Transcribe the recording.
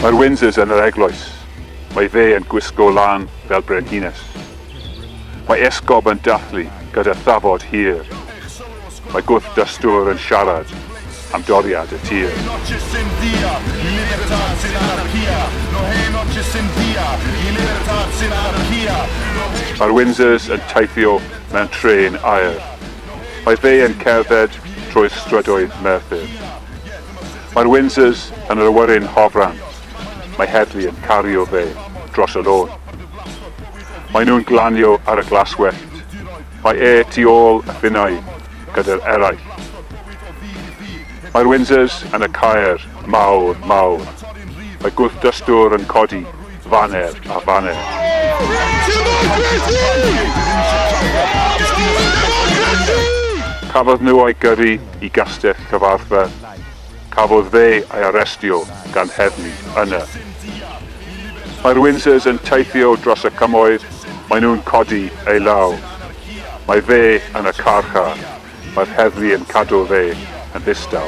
Mae'r Windsors yn yr eglwys. Mae fe yn gwisgo lan fel brenhines. Mae esgob yn dathlu gyda thafod hir. Mae gwrthdystwr yn siarad am doriad y tir. Mae'r Windsors yn teithio mewn trên aer. Mae fe yn cerdded trwy'r strydoedd Merthyr. Mae'r Windsors yn yr awyren hofran. Mae heddlu yn cario fe dros y lôn. Maen nhw'n glanio ar y glaswellt. Mae e tu ôl y finnau gyda'r eraill. Mae'r Windsors yn y caer mawr, mawr. Mae gwrthdystwr yn codi faner a baner. Cafodd nhw eu gyrru i Gastell Cyfarthfa. Cafodd fe ei arestio gan heddlu yna. Mae'r Windsors yn teithio dros y cymoedd, maen nhw'n codi ei law. Mae fe yn y carchar, mae'r heddlu yn cadw fe yn ddistaw.